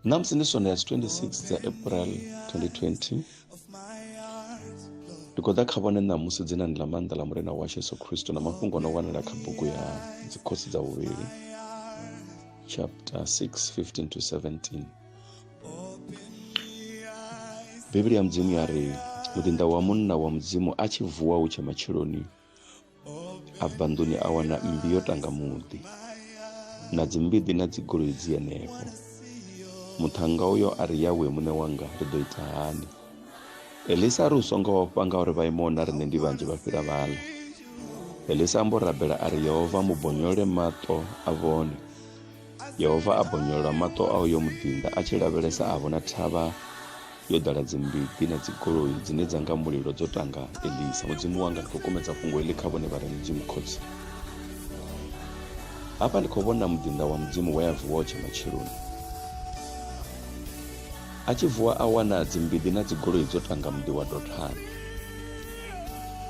namusi ndi sonde ya 26 dza april 2020 ndi khou ḓa kha vhone ṋamusi dzinani ḽa maanḓa ḽa murena washu yesu khristo na mafhungo o no wanala kha bugu ya dzikhosi dza vhuvhili chapter 6 15 to 17 bivhili ya mudzimu ya ri muḓinḓa wa munna wa mudzimu a tshi vuwa hu tshe matsheloni a bva nḓuni a wana mmbi yo tanga muḓi na dzimbiḓi na dzigoloi dzi henefho muṱhannga uyo a ri yawe muṋe wanga ri ḓo ita hani elisa a ri u songo ofha nga uri vhaimo na riṋe ndi vhanzhi vha fhira vhala elisa ambo rabela a ri yehova mubonyole maṱo a vhone Yehova a bonyolola maṱo a uyo muḓinḓa a tshi lavhelesa a vhona thavha yo ḓala dzimbiḓi na dzigoloi dzine dza nga mulilo dzo tanga elisa mudzimu wanga ndi khou kumedza fhungo heḽi kha vhone vha re mudzimu khotsi hafha ndi khou vhona muḓinḓa wa mudzimu we a vuwa o tshe matsheloni a tshi vuwa a wana dzimbiḓi na dzigoloi dzo tanga muḓi wa dothani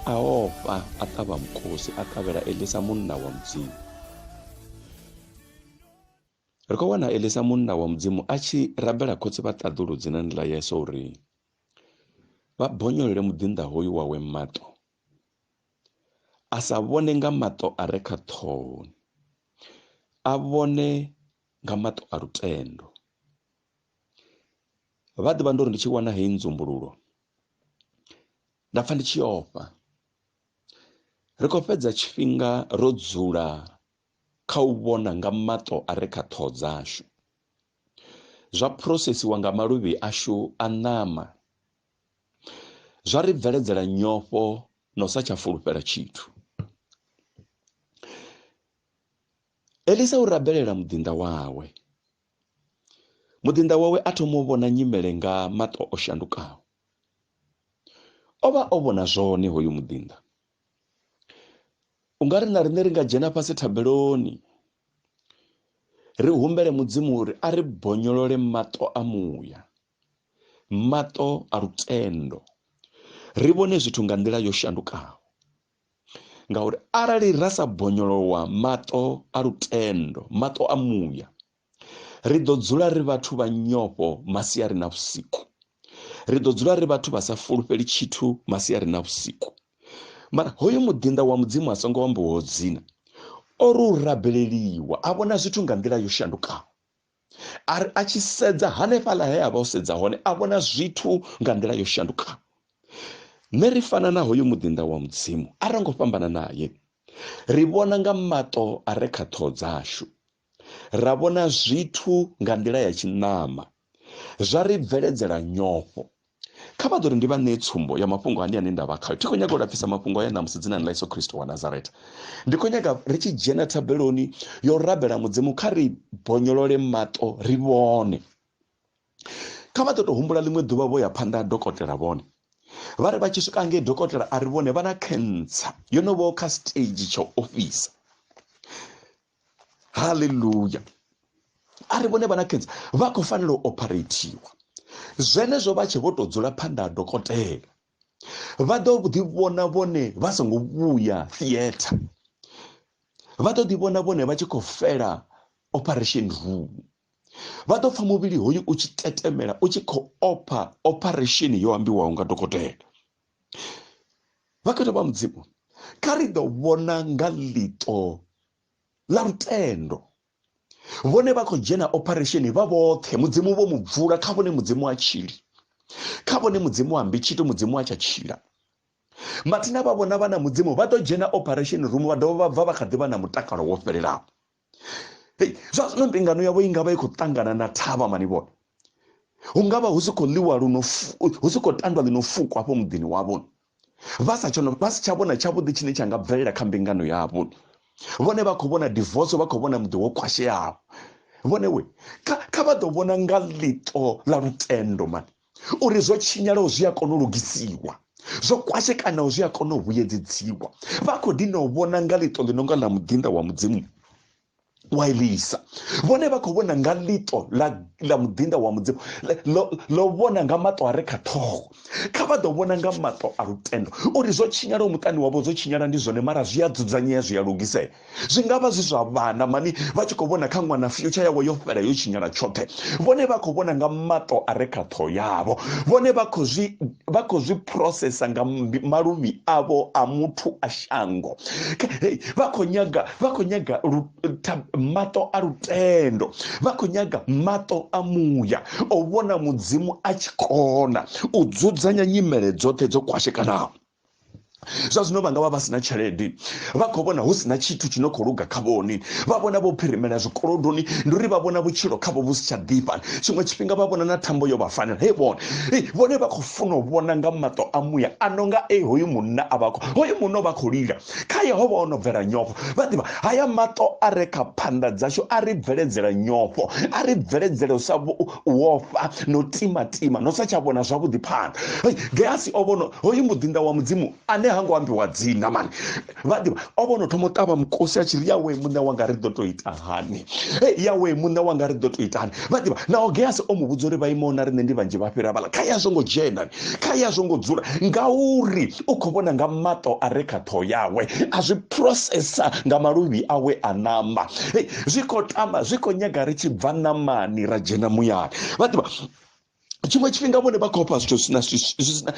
a ofha a ṱavha mukosi a ṱavhela elisa munna wa mudzimu ri khou wana elisa munna wa mudzimu a tshi rabela khotsi vha ṱaḓulu dzinani ḽa yeso uri vha bonyolele muḓinḓa hoyu wawe maṱo a sa vhone nga maṱo a re kha ṱhohoni a vhone nga maṱo a lutendo vha ḓivha ndo ri ndi tshi wana heyi nzumbululo nda pfa ndi tshi ofha ri khou fhedza tshifhinga ro dzula kha u vhona nga maṱo a re kha ṱhoho dzashu, zwa phurosesiwa nga maluvhi ashu a ṋama, zwa ri bveledzela nyofho na u sa tsha fulufhela tshithu. Elisa u rabelela muḓinḓa wawe. Muḓinḓa wawe a thoma u vhona nyimele nga maṱo o shandukaho. O vha o vhona zwone hoyu muḓinḓa u nga ri na riṋe ri nga dzhena fhasi thabeloni ri humbele mudzimu uri a ri bonyolole maṱo a muya maṱo a lutendo ri vhone zwithu nga nḓila yo shandukaho ngauri arali ra sa bonyolowa maṱo a lutendo maṱo a muya ri ḓo dzula ri vhathu vha nyofho masiari na vhusiku ri ḓo dzula ri vhathu vha sa fulufheli tshithu masiari na vhusiku mara hoyo muḓinḓa wa mudzimu a songo ambiwaho dzina o ri u rabeleliwa a vhona zwithu nga nḓila yo shandukaho a ri a tshi sedza hanefhaḽa he a vha o sedza hone a vhona zwithu nga nḓila yo shandukaho nṋe ri fana na hoyo muḓinḓa wa mudzimu a ro ngo fhambana naye ri vhona nga maṱo a re kha ṱhoho dzashu ra vhona zwithu nga nḓila ya tshiṋama zwa ri bveledzela nyofho kha vha ḓo ri ndi vha ṋee tsumbo ya mafhungo ane ane nda vha khayo thi khou nyaga u lapfisa mafhungo aya ṋamusi dzinani ḽa yesu khristo wa nazareta ndi khou nyaga ri tshi dzhena thabeloni yo rabela mudzimu kha ri bonyolole maṱo ri vhone kha vha ḓo tou humbula ḽiṅwe ḓuvha vho ya phanḓa ha dokotela vhone vha ri vha tshi swika ngei dokotela a ri vhone vha na cancer yo no vho kha stage tsha ofisa haleluya a ri vhone vha na cancer vha khou fanela u operathiwa zwenezwo vha tshe vho tou dzula phanḓa ha dokotela vha ḓo ḓivhona vhone vha songo vhuya theatre vha ḓo ḓivhona vhone vha tshi khou fela operation room vha ḓo pfha muvhili hoyu u tshi tetemela u tshi khou opha operation yo ambiwaho nga dokotela vhakhetha vha mudzimu kha ri ḓo vhona nga ḽiṱo ḽa lutendo vhone vha khou dzhena operation vha vhoṱhe mudzimu vho mu bvula kha vhone mudzimu a tshili kha vhone mudzimu ambi tshithu mudzimu a tsha tshila mathina vha vhona vha na mudzimu vha ḓo dzhena operation room vha dovha vha bva vha kha ḓi vha na mutakalo wo fhelelaho hei zwa zwino mbingano yavho i nga vha i khou ṱangana na thavha mani vhone hu nga vha hu si khou ḽiwa luno hu si khou tandwa ḽino fuko hafho muḓini wavho vha sa tshono vha si tsha vhona tshavhuḓi tshine tsha nga bvelela kha mbingano yavho vhone vha khou vhona divorce vha khou vhona muḓi wo khwasheaho vhone we kha vha ḓo vhona nga ḽiṱo ḽa lutendo mani uri zwo tshinyalaho zwi a kona u lugisiwa zwo kwashekanaho zwi a kona u vhuyedzedziwa vha khou dina u vhona nga ḽiṱo ḽi no nga ḽa muḓinḓa wa mudzimu wa elisa vhone vha khou vhona nga ḽiṱo ḽa muḓinḓa wa mudzimu ḽo vhona nga maṱo a re kha ṱhoho kha vha ḓo vhona nga maṱo a lutendo uri zwo tshinyalaho muṱani wavho zwo tshinyala ndi zwone mara zwi a dzudzanyea zwi a lugisea zwi nga vha zwi zwa vhana mani vha tshi khou vhona kha ṅwana future yawe yo fhela yo tshinyala tshoṱhe vhone vha khou vhona nga mato a re kha ṱhoho yavho vhone vha khou zwi vha khou zwi processa nga maluvhi avho a muthu a shango vha khou nyaga vha khou nyaga mato a lutendo vha khou nyaga mato a muya o vhona mudzimu a tshi kona u dzudzanya nyimele dzoṱhe dzo kwashekanaho zwa zwino vha nga vha vha si na tshelede vha khou vhona hu si na tshithu tshi no khou luga kha vhone vha vhona vho phirimela zwikolodoni ndi uri vha vhona vhutshilo khavho vhu si tsha ḓifha tshiṅwe tshifhinga vha vhona na thambo yo vha fanela he vhone vhone vha khou funa u vhona nga maṱo a muya a no nga e hoyu munna a vha hoyu munna vha khou lila kha yehova o no bvela nyofho vha ḓivha haya maṱo a re kha phanḓa dzashu a ri bveledzela nyofho a ri bveledzela u sa wo fa no timatima no sa tsha vhona zwavhuḓi phanḓa gehasi o vhono hoyu muḓinḓa wa mudzimu ane ha ngo ambiwa dzina mani vha ḓivha o vhono thoma u ṱavha mukosi a tshi ri yawe muṋe wanga ri ḓo to ita hani yawe muṋe wanga ri ḓo to ita hani vha ḓivha naho gehasi o mu vhudza uri vha imaho na riṋe ndi vhanzhi vha fhira vhala kha ya zwo ngo dzhenani kha ya zwo ngo dzula ngauri u khou vhona nga maṱo a re kha ṱhoho yawe a zwi processa nga maluvhi awe a ṋama zwi khou tama zwi khou nyaga ri tshi bva ṋamani ra dzhena muyani vha ḓivha tshiṅwe tshifhinga vhone vha khou fha zwithu zwina zwisina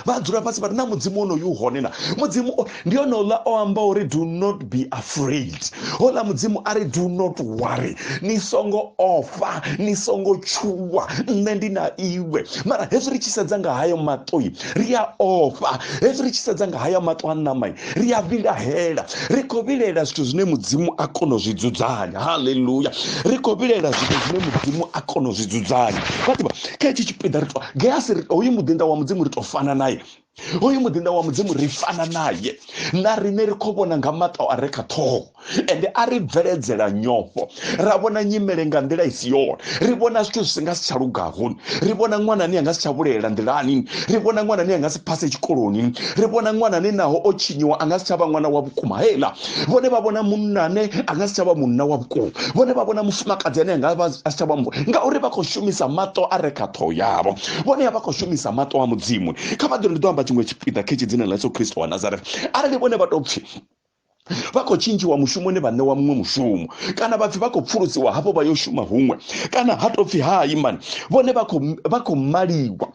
vha dzula fhasi vha ri na mudzimu onoyu hone na mudzimu ndi hone ola o amba uri do not be afraid hola mudzimu a ri do not worry ni songo ofha ni songo tshuwa nṋe ndi na iwe mara hezwi ri tshi sedza nga hayo maṱoi ri a ofha hezwi ri tshi sedza nga hayo maṱo a ṋamai ri a vhilahela ri khou vhilaela zwithu zwine mudzimu a kona u zwi dzudzanya haleluya ri khou vhilaela zwithu zwine mudzimu a kona u zwi dzudzanya vhaḓivha kha hetshi tshipiḓa ri to gehasi ri hoyu muḓinḓa wa mudzimu ri to fana naye hoyu muḓinḓa wa mudzimu ri fana naye na riṋe ri khou vhona nga maṱo a re kha ṱhoho ende a ri bveledzela nyofho ra vhona nyimele nga nḓila i si yone ri vhona zwithu zwi si nga si tsha lugaho ri vhona ṅwana ane a nga si tsha vhulela nḓilani ri vhona ṅwana ane a nga si phase tshikoloni ri vhona ṅwana ane naho o tshinyiwa a nga si tsha vha ṅwana wa vhukuma heiḽa vhone vha vhona munna ane a nga si tsha vha munna wa vhukuma vhone vha vhona mufumakadzi ane a nga vha a si tsha vha mu ngauri vha khou shumisa maṱo a re kha ṱhoho yavho vhone vha khou shumisa maṱo a mudzimu kha vha ḓo ndi ḓo amba tshiṅwe tshipiḓa khetshi dzina ḽa yesu kristo wa nazareth arali vhone vha tou pfhi vha khou tshintshiwa mushumoni vha ṋewa muṅwe mushumo kana vhapfi vha khou pfulusiwa hafho vha yo shuma huṅwe kana ha tou pfhi hai mani vhone vha khou maliwa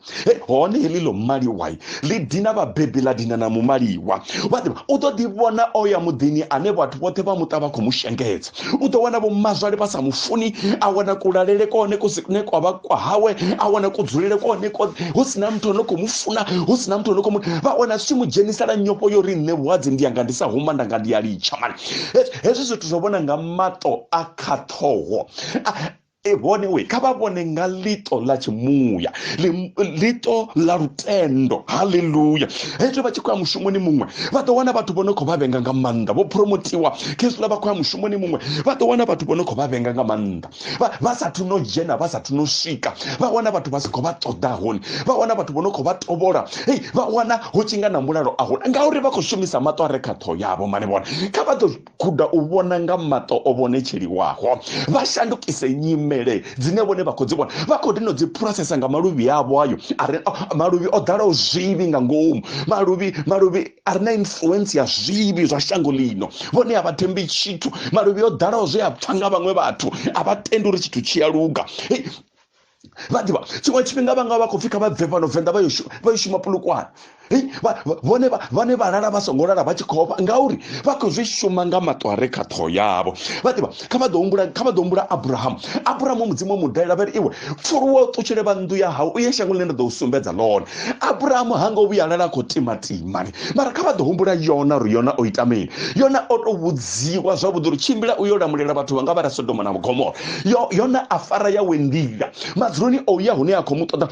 hone heḽi ḽo maliwai ḽi dina vhabebi ḽa dina na mumaliwa vhaḓivha u ḓo ḓi vhona o ya muḓini ane vhathu vhoṱhe vha muṱa vha khou mu shengedza u ḓo wana vhomazwale vha sa mu funi a wana kulalele kone kune kwa vha kwa hawe a wana kudzulele kone kone hu si na muthu ono khou mu funa hu si na muthu ono khou mu vha wana zwi tshi mu dzhenisela nyofho yo ri nṋe vhuhadzi ndi yanga ndi sa huma ndanga ndi ya litsha mani hezwi zwithu zwo vhona nga maṱo a khaṱhoho e hone we kha vha vhone nga ḽiṱo ḽa tshimuya ḽiṱo ḽa lutendo haleluya hezwo vha tshi khou ya mushumoni muṅwe vha ḓo wana vhathu vho no khou vha vhenga nga maanḓa vho promotiwa khezwiḽa vha khou ya mushumoni muṅwe vha ḓo wana vhathu vho no khou vha vhenga nga maanḓa vha sathu no dzhena vha sathu no swika vha wana vhathu vha si khou vha ṱoḓa hone vha wana vhathu vho no khou vha tovhola hei vha wana hu tshi nga na mulalo a hone ngauri vha khou shumisa maṱo a re kha ṱhoho yavho mane vhone kha vha ḓo guda u vhona nga maṱo o vhonetsheliwaho vha shandukise nyimele dzine vhone vha khou dzi vhona vha khou dino dzi phurosesa nga maluvhi avho ayo are maluvhi o ḓalaho zwivhi nga ngomu maluvhi maluvhi a re na influence ya zwivhi zwa shango ḽino vhone a vha thembi tshithu maluvhi o ḓalaho zwe a pfha nga vhaṅwe vhathu a vha tendi uri tshithu tshi a luga vhaḓivha tshiṅwe tshifhinga vhanga vha khou pfhi kha vha bve fhano venḓa vha yo shuma pulukwane vhone vhane vha lala vha songo lala vha tshi khofha ngauri vha khou zwi shuma nga maṱo a re kha ṱhoho yavho vhaḓivha kha vha ḓo humbula kha vha ḓo humbula abrahamu abrahamu mudzimu mudalela vha ri iwe pfuluwa u ṱutshele vha nnḓu ya hau u ye shangoni ḽine nda ḓo u sumbedza ḽone aburahamu ha ngo vhuya lala khou timatima mara kha vha ḓo humbula yona uri yona o ita mini yona o tou vhudziwa zwavhuḓi uri tshimbila u yo lamulela vhathu vha nga vha ra sodoma na mugomora yona a fara yawe nḓila madzuloni o ya hune a khou mu ṱoḓa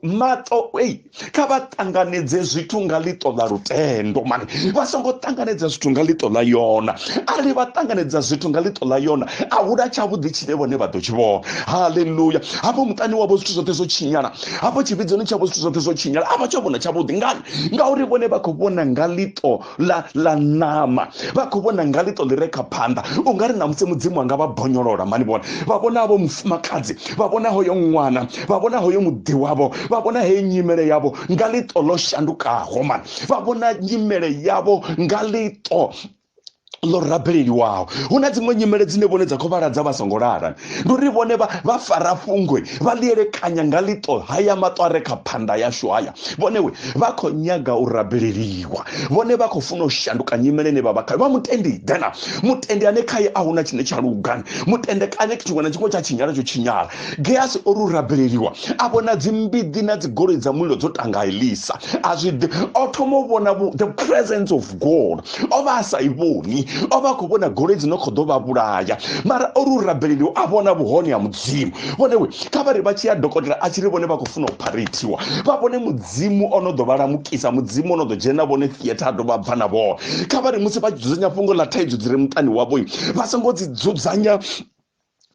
maṱo ei kha vha ṱanganedze zwithu nga ḽiṱo ḽa lutendo mani vha songo ṱanganedza zwithu nga ḽiṱo ḽa yona arali vha ṱanganedza zwithu nga ḽiṱo ḽa yona a hula tshavhuḓi tshine vhone vha ḓo tshi vhona haleluya hafho muṱani wavho zwithu zwoṱhe zwo tshinyala hafho tshivhidzoni tshavho zwithu zwoṱhe zwo tshinyala a vha tsha vhona tshavhuḓi ngani ngauri vhone vha khou vhona nga ḽiṱo ḽa ḽa ṋama vha khou vhona nga ḽiṱo ḽi re kha phanḓa u nga ri na musi mudzimu anga vha bonyolola mani vhona vha vhona havho mufumakadzi vha vhona hoyo ṅwana vha vhona hoyo muḓi wavho vha vhona heyo nyimele yavho nga ḽiṱo ḽo shandukaho mani vha vhona nyimele yavho nga ḽiṱo ḽo rabeleliwaho hu na dziṅwe nyimele dzine vhone dza khou vhala dza vha songo lala ndi uri vhone vha fara fhungwe vha ḽi elekanya nga ḽiṱo haya maṱo a re kha phanda yashu haya vhone we vha khou nyaga u rabeleliwa vhone vha khou funa u shanduka nyimele ine vha vha khayo vha mutendi dena mutendi ane khaye a huna tshine tsha lugani mutende kane tshiṅwe na tshiṅwe tsha tshinyala tsho tshinyala geasi o ru rabeleliwa a vhona dzimbiḓi na dzigoloi dza mulilo dzo tanga elisa a zwi ḓi o thoma u vhona the presence of god o vha a sa i vhoni o vha a khou vhona goloi dzi no khou ḓo vha vhulaya mara o ri u rabeleli a vhona vhuhone ha mudzimu vhone we kha vha ri vha tshi ya dokotela a tshi ri vhone vha khou funa u pharethiwa vha vhone mudzimu o no ḓo vha lamukisa mudzimu o no ḓo dzhena vhone theatre a dovha bva na vhone kha vha ri musi vha dzudzanya fhungo ḽa thaidzo dzi re muṱani wavho vha songo dzi dzudzanya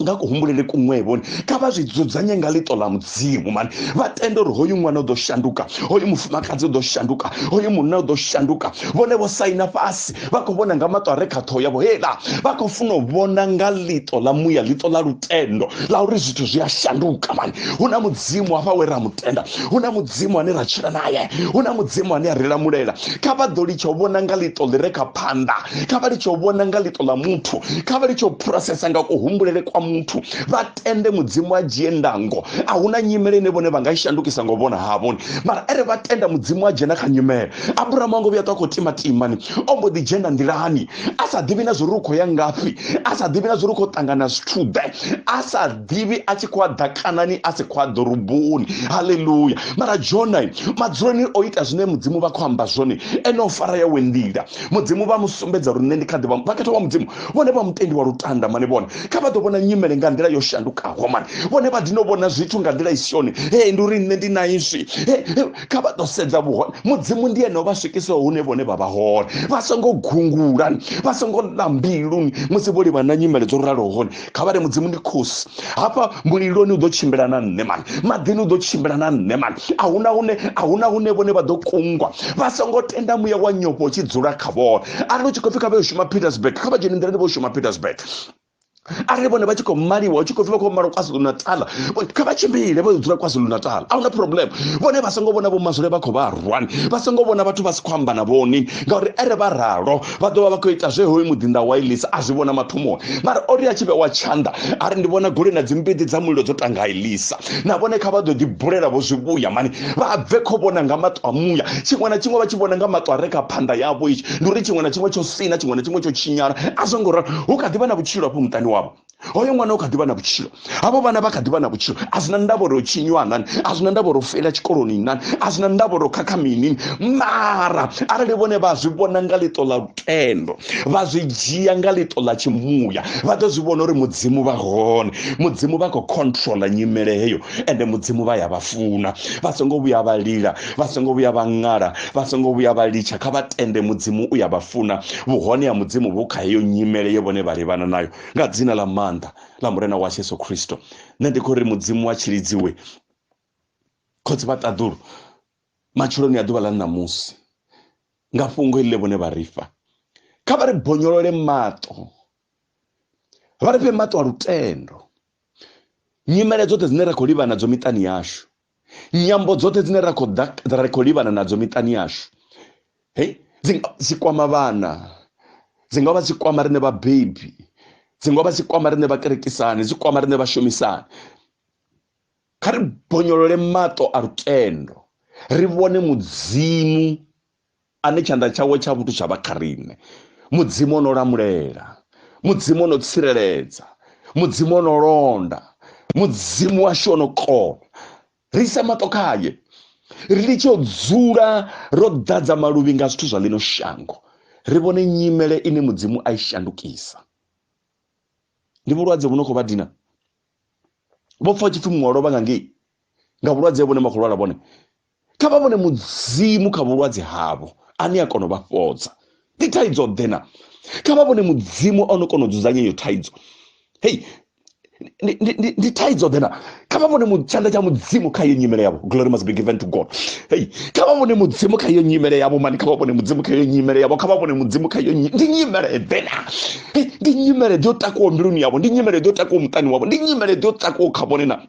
nga kuhumbulele kuṅwevhoni kha vha zwi dzudzanye nga ḽiṱo ḽa mudzimu mani vha tende uri hoyu ṅwana u ḓo shanduka hoyu mufumakadzi u ḓo shanduka hoyu munna u ḓo shanduka vhone vho saina fhasi vha khou vhona nga maṱo a re kha ṱhoho yavho hela vha khou funa u vhona nga ḽiṱo ḽa muya ḽiṱo ḽa lutendo ḽa uri zwithu zwi a shanduka mani hu na mudzimu hafha we ra mutenda hu na mudzimu ane ra tshila naye hu na mudzimu ane a ri lamulela kha vha ḓo litsha u vhona nga ḽiṱo ḽi re kha phanḓa kha vha litsho vhona nga ḽiṱo ḽa muthu kha vha litsho phurosesa nga kuhumbulele kwa muthu vha tende mudzimu a dzhie ndango a hu na nyimele ine vhone vha nga i shandukisa ngo vhona havhoni mara ere vha tenda mudzimu a dzhena kha nyimele aburahamu a ngo vhuya ṱwa khou tima timani o mbo ḓi dzhena nḓilani a sa ḓivhi na zwori u khou ya ngafhi a sa ḓivhi na zwori u khou ṱangana zwithu ḓe a sa ḓivhi a tshi khou a ḓa kanani a si khou a ḓoroboni haleluya mara jonai madzuloni o ita zwine mudzimu vha khou amba zwone ene o fara yawe nḓila mudzimu vha mu sumbedza uri nṋe ndi kha ḓi vha vhakhetha wa mudzimu vhone vha mutendi wa lutanda mane vhone kha vha ḓo vhona nyimele nga nḓila yo shandukaho mane vhone vha dino vhona zwithu nga nḓila i si yone he ndi uri nṋe ndi na iswi kha vha ḓo sedza vhuhone mudzimu ndi ene o vha swikisaho hune vhone vha vha hone vha songo gungula vha songo ḽa mbiluni musi vho livha na nyimele dzo raloho hone kha vha ri mudzimu ndi khosi hafha muliloni u ḓo tshimbila na nṋe mani maḓini u ḓo tshimbila na nṋe mani ahuna hune ahuna hune vhone vha ḓo kungwa vha songo tenda muya wa nyofho u tshi dzula kha vhone arali u tshi khou pfi kha vha yo shuma petersburg kha vha dzhene nḓilani vho shuma petersburg arali vhone vha tshi khou maliwa tshi khou pfi vha khou malwa kwazulu natal kha vha tshimbile vha dzula kwazulu natal a huna problem vhone vha songo vhona vho mazwule vha khou vha rwani vha songo vhona vhathu vha si khou amba na vhoni ngauri ere vha ralo vha ḓovha vha khou ita zwe hoyu muḓinḓa wa elisa a zwi vhona mathomoni mara o ri a tshi vhewa tshanḓa a ri ndi vhona goloi na dzimbidi dza mulilo dzo tanga elisa na vhone kha vha ḓo ḓi bulela vho zwi vhuya mani vha bve kho vhona nga maṱo a muya tshiṅwe na tshiṅwe vha tshi vhona nga maṱo a re kha phanda yavho itshi ndi uri tshiṅwe na tshiṅwe tsho sina tshiṅwe na tshiṅwe tsho tshinyala a zwo ngo ralo hu kha ḓi vha na vhutshilo afho muṱani wavho hoyo ṅwana u kha ḓivha na vhutshilo havho vhana vha kha ḓivha na vhutshilo a zwi na ndavha uri tshinywa nani a zwi na ndavha uri u fela tshikoloni nani a zwi na ndavha uri khakha mini mara arali vhone vha zwi vhona nga ḽiṱo ḽa lutendo vha zwi dzhia nga ḽiṱo ḽa tshimuya vha ḓo zwi vhona uri mudzimu vha hone mudzimu vha khou controla nyimele heyo ende mudzimu vha ya vha funa vha songo vhuya vha lila vha songo vhuya vha ṅala vha songo vhuya vha litsha kha vha tende mudzimu u ya vha funa vhuhone ha mudzimu vhu kha heyo nyimele ye vhone vha livhana nayo nga dzina ḽa maanḓa ḽa murena wa yesu khristo nṋe ndi khou ri mudzimu wa tshilidziwe khotsi vha ṱaḓulu matshiloni a ḓuvha ḽa ṋamusi nga fhungo iḽi vhone vha ri fha kha vha ri bonyolole maṱo vha ri fhe maṱo a lutendo nyimele dzoṱhe dzine ra khou livha nadzo miṱani yashu nyambo dzoṱhe dzine ra khou ri khou livhana nadzo miṱani yashu hei dzi nga dzi kwama vhana dzi nga vha dzi kwama riṋe vhabebi dzi nga vha dzi kwama riṋe vhakerekisani dzi kwama riṋe vhashumisani kha ri bonyolole maṱo a lutendo ri vhone mudzimu ane tshanḓa tshawe tsha vhuthu tsha vha kha riṋe mudzimu o no lamulela mudzimu o no tsireledza mudzimu o no londa mudzimu washu o no kona ri isa maṱo khaye ri litshe u dzula ro ḓadza maluvhi nga zwithu zwa ḽino shango ri vhone nyimele ine mudzimu a i shandukisa ndi vhulwadze vhu no khou vha dina vho pfa tshipfi muṅwe lovha nga ngei nga vhulwadze vhune makhulwala vhone kha vha vhone mudzimu kha vhulwadze havho ane a kona u vha fhodza ndi thaidzo ḓe na kha vha vhone mudzimu ono kona u dzudzanya iyo thaidzo hei ndi thaidzo ḓe na kha vha vhone tshanḓa tsha mudzimu kha iyo nyimele yavho glory must be given to god hei kha vha vhone mudzimu kha iyo nyimele yavho mani kha vha vhone mudzimu kha iyo nyimele yavho kha vha vhone mudzimu kha iyo ndi nyimele ḓe na ndi nyimele ḓe yo takuwa mbiluni yavho ndi nyimele ḓe yo takuwa muṱani wavho ndi nyimele ḓe yo takuwa kha vhone na